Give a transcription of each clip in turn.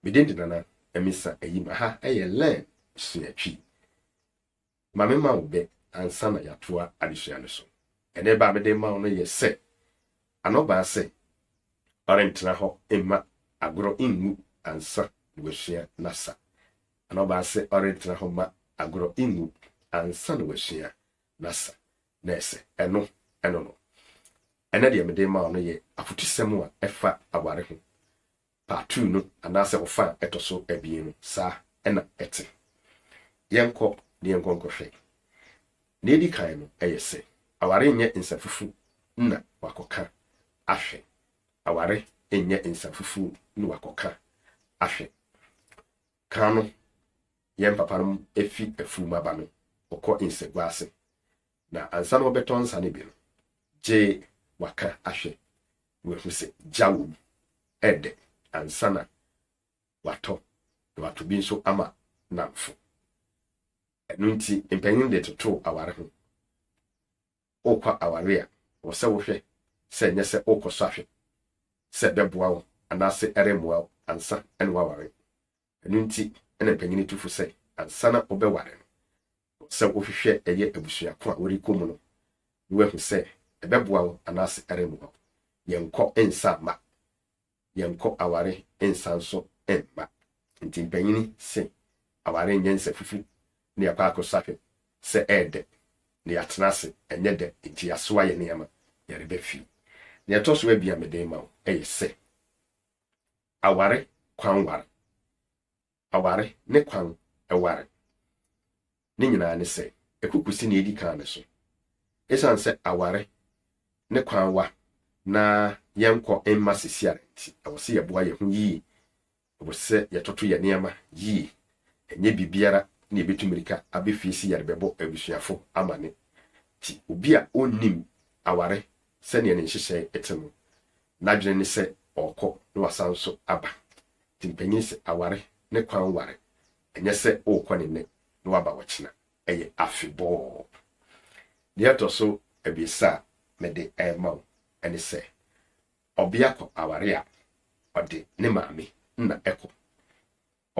Me din de Nana Amisa Ayim. Aha yɛ Learn Sua Twi. Ma me ma wo bɛ ansa na yɛatoa adesua no so. Ɛnɛ bɛ a mede ma wo no yɛ sɛ, Anɔbaa sɛ ɔrentena hɔ mma agorɔ nwu ansa na wasua n'asa. Anɔbaa sɛ ɔrentena hɔ mma agorɔ nwu ansa na wasua n'asa. Na ɛsɛ, ɛno, ɛno no. Ɛnɛ deɛ mede ma wo no yɛ afotusɛm a ɛfa aware ho. Patu no anaasɛ wo fa a ɛtɔ so abien no, saa na ɛte. Yɛnkɔ na yɛnkɔ nkɔhwɛ. Nea edi kan no, ɛyɛ sɛ aware nyɛ nsafufuw na wɔakɔka ahwɛ. Aware nyɛ nsafufuw na wɔakɔka ahwɛ. Kan no, yɛn papanom fi afuw mu aba no, wɔkɔ nsagua ase Na ansa na wɔbɛtɔ nsa no bi no, gye wɔaka ahwɛ na wɔahu sɛ gya wɔ mu. Ɛyɛ dɛ ansa na wɔatɔ, na wɔatɔ bi nso ama nnamfo. Ɛno nti, mpanyin de totoo aware ho. Wokɔ aware a, wɔ sɛ wohwɛ sɛ ɛnyɛ sɛ wokɔsɔ ahwɛ sɛ ɛbɛboa wo anaasɛ ɛremmoa wo ansa na woaware. Ɛno nti na panyin tu fo sɛ ansa na wobɛware no, ɛwɔ sɛ wohwehwɛ ɛyɛ abusua ko a worekɔ mu no na woahu sɛ ɛbɛboa wo anaasɛ ɛremmoa wo. Yɛnkɔ nsa mma. Yɛnkɔ aware nsa nso mma. Enti mpanyin se aware nyɛ nsafufu na yɛakɔ akɔsa hwɛ sɛ ɛyɛ dɛ na yɛatena ase ɛnyɛ dɛ enti yɛasoa yɛn nneɛma yɛreba fie. Nea ɛtɔ so abien a mede rema wo yɛ sɛ Aware kwan ware. Aware ne kwan ware. Ne nyinaa ne sɛ, ɛkuku si nea edi kan no so. Esiane sɛ aware ne kwan wa na yɛnkɔ mma sisiare nti, ɛwɔ sɛ yɛboa yɛn ho yiye. Ɛwɔ sɛ yɛtoto yɛn nneɛma yiye. Ɛnyɛ biribiara na yebetu mmirika aba fie sɛ yɛde bɛbɔ abusuafo amanne. Enti obi a onnim aware sɛnea ne nhyehyɛe te no N'adwene ne sɛ ɔrekɔ na wasan nso aba. Nti mpanyin se aware ne kwan ware, ɛnyɛ sɛ worekɔ no nnɛ na woaba ɔkyena. Ɛyɛ afebɔɔ. Deɛ ɛtɔ so abiɛsa a mede rema wo ne sɛ, ɔbea kɔ aware a, ɔde ne maame na ɛkɔ.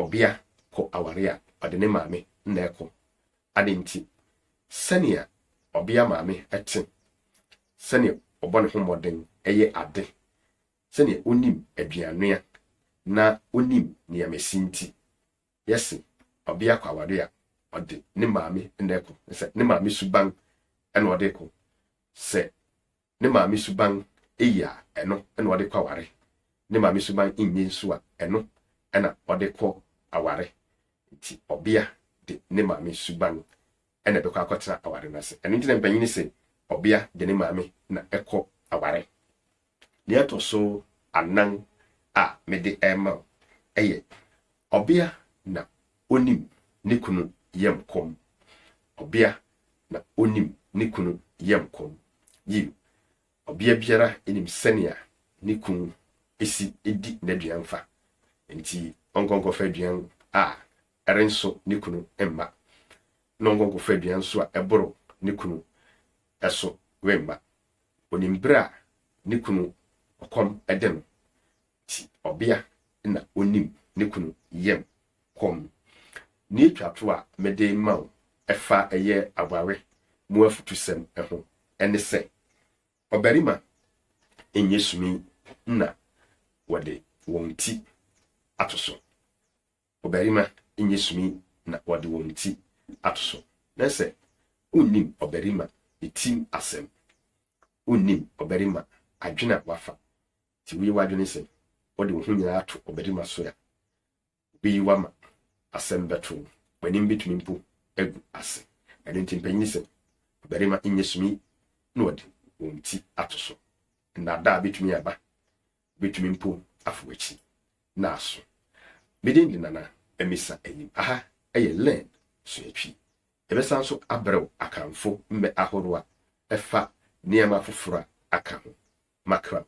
Ɔbea kɔ aware a, ɔde ne maame na ɛkɔ. Adɛn nti? Sɛnea ɔbea maame te, sɛnea ɔbɔ ne ho mmɔden yɛ ade, sɛnea onim aduannoa, na onim nneɛma esi nti, yɛse ɔbea kɔ aware a, ɔde ne maame na ɛkɔ. Sɛ ne maame suban na ɔde kɔ. Sɛ ne maame suban ye a, ɛno na ɔde kɔ aware. Ne maame suban nye nso a, ɛno na ɔde kɔ aware. Nti ɔbea de ne maame suban na ɛbɛkɔ akɔtena aware no ase. Ɛno nti na mpanyin se ɔbea de ne maame na ɛkɔ aware. Nea ɛtɔ so anan a mede rema wo yɛ ɔbea na onim ne kunu yam kɔm. Ɔbea na onim ne kunu yam kɔm. Yiw, ɔbea biara nim sɛnea ne kunu si di n'aduan fa. Enti ɔnkɔ nkɔfa aduan a ɛrenso ne kunu mma, na ɔnkɔ nkɔfa aduan nso a ɛboro ne kunu so mma. Onim bere a ne kunu ɔkɔm de no, Nti ɔbea na onim ne kunu yam kɔm. Nea etwa to a mede ma wo ɛfa ɛyɛ aware mu afutusɛm ho ɛne sɛ, ɔbarima nyɛ sumi na wɔde wɔn ti ato so. Ɔbarima nyɛ sumi na wɔde wɔn ti ato so. Na sɛ wonnim ɔbarima ne tim asɛm, wonnim ɔbarima adwene a wafa Sɛ wuyi w'adwene sɛ wode wo ho nyinaa to ɔbarima so a, obeyi wo ama asɛm bɛto wo. W'anim betumi mpo agu ase. Ɛno nti, mpanyin se, Ɔbarima nyɛ sumi na wɔde wɔn ti ato so. Nnaadaa betumi aba. Wobetumi mpo afa w'akyi na aso. Me din de Nana Amisa Ayim. Aha yɛ Learn, Suatwi. Yɛbɛsan nso abrɛ wo Akanfo mmɛ ahorow a ɛfa nneɛma foforo a aka ho. Makram.